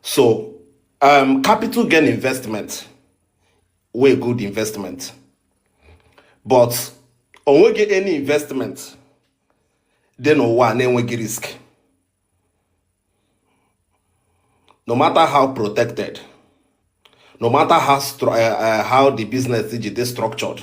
so um, capital gain investment wey good investment but onweghị any investment dị n'ụwa na-enweghị risk no matter how protected no matter how, uh, uh, how the business ji dey structured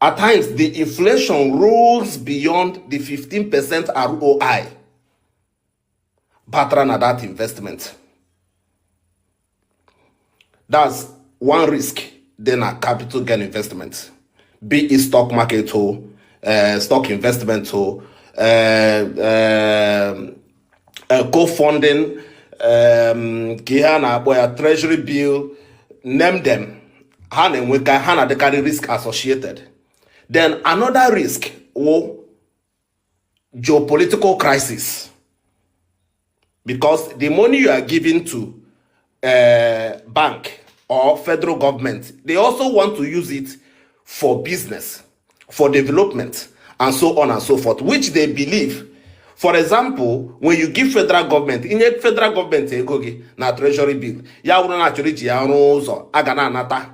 At times, the inflation rolls beyond the 15% ROI batara na that investment. That's one risk dị na capital gain investment be it stock market o uh, stock investment o uh, uh, eh, co-funding ehm, kee ihe a na-akpọ ya treasury bill name them ha na-enweka ha na-adịkarị risk associated then another risk wụ geopolitical crisis because the money you are giving to uh, bank or federal government. They also want to use it for business, for development, and so on and so forth, which they believe. For example, when you give federal government, i nye federal government ego gị na treasury bill, ya wụrụ na a chọrọ iji ya rụọ ụzọ a ga na-anata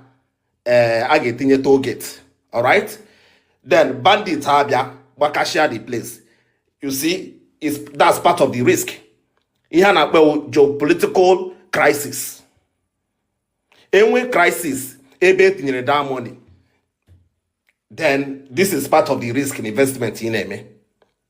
ee a ga-etinye toll gate alright then bandit abịa gbakashia the place you see is that's part of the risk ihe a na-akpọ geopolitical crisis enwe crisis ebe etinyere that money then this is part of the risk in investment ị na-eme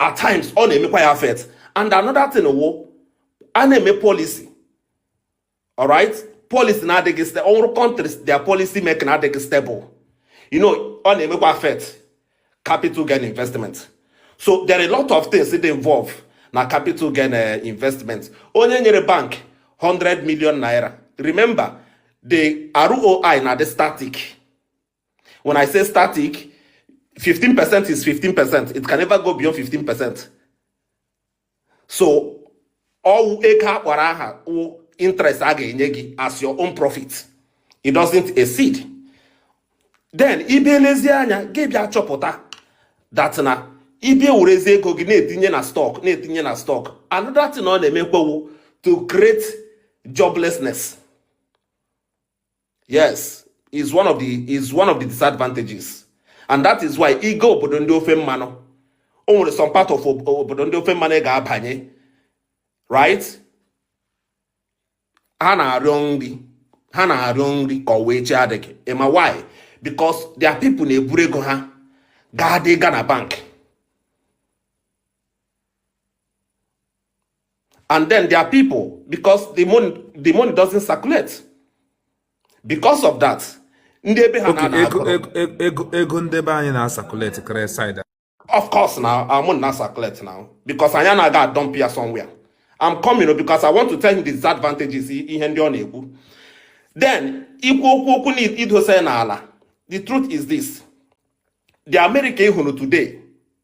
at times ọ na-emekwa ya affect and another thing wụ a na-eme policy alright policy na-adịghị stable ọ wụrụ countries their policy making na-adịghị stable you know ọ na-emekwa affect capital gain investment so there are a lot of things that involve na capital gain eh, investment onye nyere bank 100 million naira remember the ROI na-adị static When I say static, 15% is 15%. It can never go beyond 15%. So, ọ wụ ego a kpọrọ aha interest a ga-enye gị as your own profit. It doesn't exceed. Then, ị bịa lezie anya gị bịa chọpụta that na ị bịa werezie ego gị na-etinye na stock na-etinye na stock another thing ọ na-emekwa wụ to create joblessness. yes is one of the is one of the disadvantages and that is why ị gaa obodo ndị ofe mmanụ o nwere some part of obodo ndị ofe mmanụ ị ga-abanye right ha na-arịọ nri ha na-arịọ nri ka ọ wụ echi adịghị ị ma why because their people na-eburu ego ha gaa dị ga na bank and then their people because the money the money doesn't circulate because of that ndị ebe ha na ego ego ndị be anyị na circulate kere side of course na our money na circulate now because anyị anaghị aga dump ya somewhere I'm coming because I want to tell him the disadvantages ihe ndị ọ na-ekwu then ikwu okwu okwu na idosa ya n'ala the truth is this the America ị hụrụ today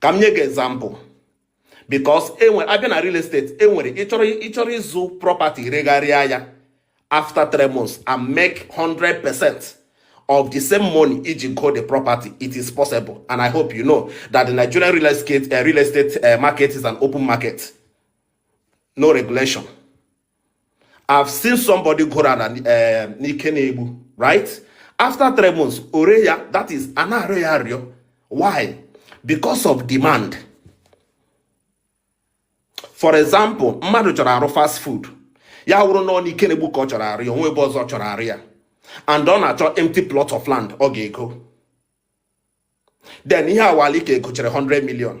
ka m nye gị example because enwe a bịa na real estate e nwere ị chọrọ ị chọrọ ịzụ property regharịa ya after three months and make 100 percent of the same money i ji go the property it is possible and i hope you know that the nigerian real estate, uh, real estate uh, market is an open market no regulation I've seen somebody goro ala n'Ikenegbu right after three months o ree ya that is a na-arịọ ya arịọ why because of demand for example mmadụ chọrọ arụ fast food ya wụrụ na ọ n'Ikenegbu ka ọ chọrọ arụ ya onwe ebe ọzọ chọrọ arụ ya and ọ na-achọ empty plot of land ọ ga-ego then ihe a wụ ala ị ka gochere 100 million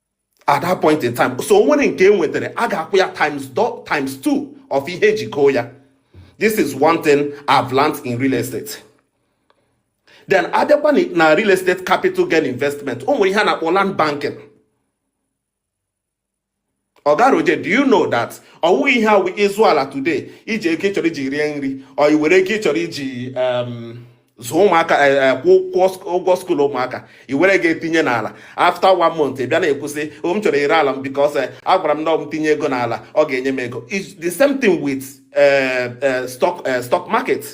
at that point in time so o nwere nke e nwetara a ga-akwụ ya times two of ihe eji goo ya this is one thing I've learned in real estate then abịakwa na real estate capital gain investment o nwere ihe a na-akpọ land banking ogaroje do you know that ọ wụghị ihe a wụ ị zụọ ala today i ji ego ị chọrọ iji rie nri or i were ego ị chọrọ iji um, zụọ ụmụaka eh, eh, kwụọ ụgwọ school ụmụaka i were ga etinye n'ala after one month ị bịa na-ekwu sị oh, m chọrọ ire ala m because eh, agwara m na m tinye ego n'ala ọ ga-enye m ego the same thing with stock stock market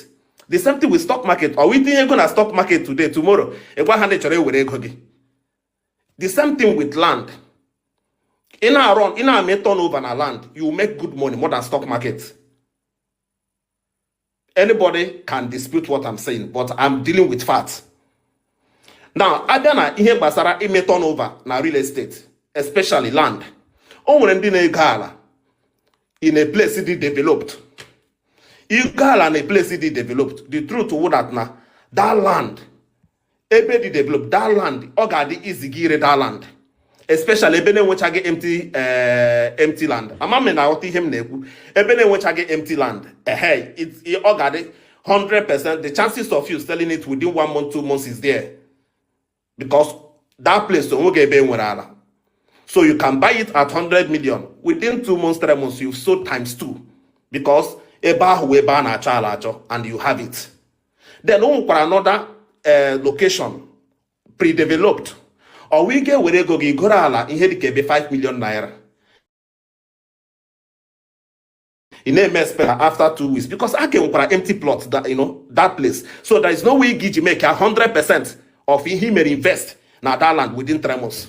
the same thing with stock market ọ wụghị i tinye ego na stock market today tomorrow ị gwa ha na ị chọrọ ewere ego gị the same thing with land ị na-arọ ị na-eme turnover na land you make good money more than stock market anybody can dispute what I'm saying but I'm dealing with facts now abịa na ihe gbasara ime turnover na real estate especially land o nwere ndị na-ego ala in a place dị developed i go ala na a place dị developed the truth wụ that na that land ebe dị developed that land ọ ga-adị easy gị ire that land especially ebe na-enwechaghị empty eh, empty land ama m na aghọta ihe m na-ekwu ebe na-enwechaghị empty land ehe ọ ga-adị 100 percent the chances of you selling it within one month two months is there because that place o nweghị ebe e nwere ala so you can buy it at 100 million within two months three months you've sold times two because ebe ahụ ebe a na-achọ ala achọ and you have it then o nwekwara another eh, location pre-developed ọ wụghị ị ga-ewere ego gị goro ala ihe dịka ebe 5 million naira ị na-eme expect after two weeks because a ka nwekwara empty plot that, you know, that place so there is no way ị ga-eji make 100 percent of ihe i mere invest na that land within three months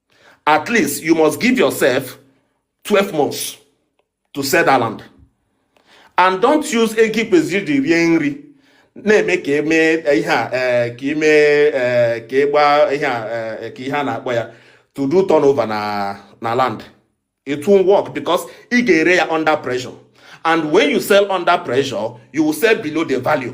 at least you must give yourself 12 months to sell that land and don't use ego i kwesịrị iji rie nri na-eme ka emee eh, ihe a eh, ka ime eh, ka ịgba ihe a ka ihe a na-akpọ ya to do turnover na na land it won't work because ị ga-ere ya under pressure and when you sell under pressure you will sell below the value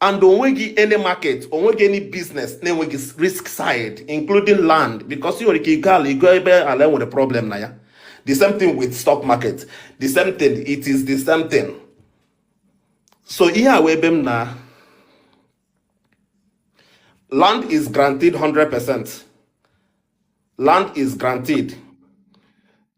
and onweghị any market onweghị any business na-enweghị risk side including land because ị nwere ike igo ala igo ebe ala nwere problem na ya the same thing with stock market the same thing it is the same thing so ihe a wee ebe m na land is granted 100% land is granted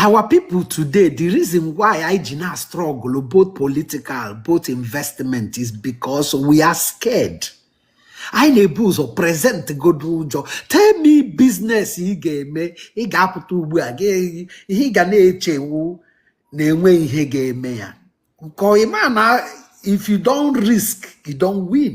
our people today the reason why anyị ji na-struggle both political both investment is because we are scared anyị na-ebu ụzọ present godo ụjọ tell me business ị ga-eme ị ga-apụta ugbu a ihe ị ga na-eche wụ na e nwe ihe ga-eme ya nke ịma na if you don't risk you don't win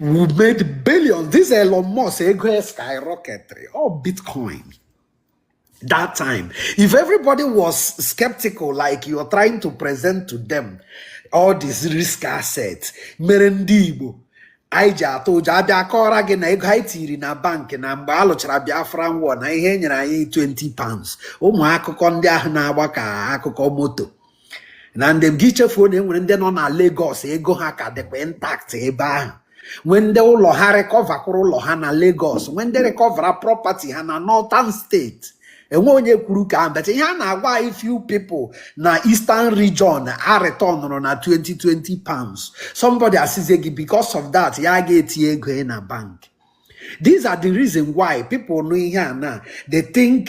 we made billions this Elon Musk ego ya skyrocketiri all bitcoin that time if everybody was skeptical like you're trying to present to them all these risk assets mere ndị Igbo anyị ji atụ ụjọ a bịa akọọra gị na ego anyị tiri na bankị na mgbe a lụchara Biafra war na ihe e nyere anyị 20 pounds ụmụ akụkọ ndị ahụ na-agba ka akụkọ moto and then gị echefuo na enwere ndị nọ na Lagos ego ha ka dịkwa intact ebe ahụ nwee ndị ụlọ ha recoverkwara ụlọ ha na Lagos nwee ndị recoverara property ha na Northern state enweghị onye kwuru nke ahụ but ihe a na-agwa anyị few people na Eastern region a returnụrụ na 20 20 pounds somebody asizie gị because of that ya ga-etinye ego na bank these are the reason why people nụ ihe a na they think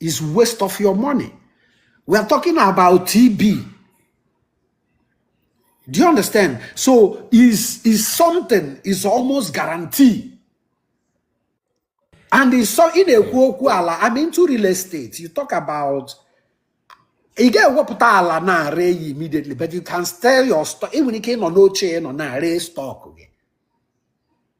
is waste of your money we are talking about TB do you understand so is is something is almost guarantee and is so ị na-ekwu okwu ala i'm into real estate you talk about ị ga-ewepụta ala na-ere ya immediately but you can sell your stock ị nwere ike ịnọ n'oche ị nọ na-ere stock gị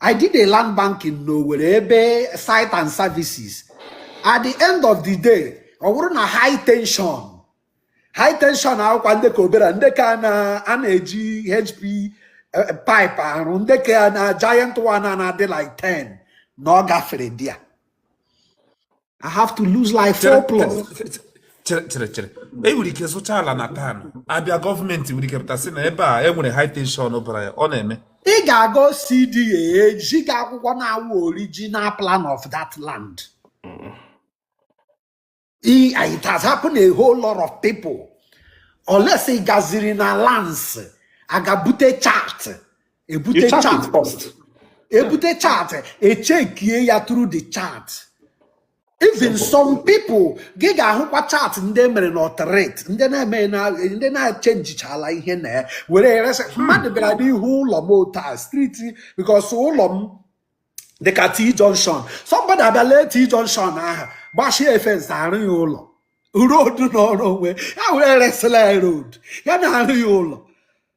I did a land banking n'Owerri ebe site and services at the end of the day ọ bụrụ na high tension high tension awụkwa ndị ke obere ndị ke a na-eji HP eh, pipe arụ ndị ke a na giant one na-adị like 10 na ọ gafere there I have to lose like four plots. chere chere chere e nwere ike zụcha ala na town a bịa gọọmenti nwere ike pụta sị na ebe a e nwere high tension bara ya ọ na-eme ị ga-aga OCDA ezi gị akwụkwọ na-awụ original plan of that land I- it has happened a whole lot of people unless ị gaziri na lands aga bute chart ebute You chart chart it first. Yeah. ebute chart echekie ya through the chart even Simple. some people gị ga-ahụkwa chart ndị e mere na authority ndị na-echenjichala ihe na ya were ya resị mmadụ bịara n'ihu ụlọ m otu street because ụlọ m dịka t junction somebody abịala t junction ahụ gbachie fence arụ ya ụlọ road nọọrọ onwe ya were resịla ya road ya na-arụ ya ụlọ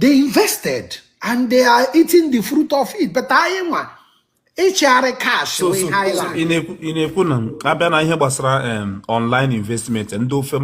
they invested and they are eating the fruit of it but anyị nwa ịchịgharị cash ị na-ekwu na abịa na ihe gbasara um, online investment ndị ofe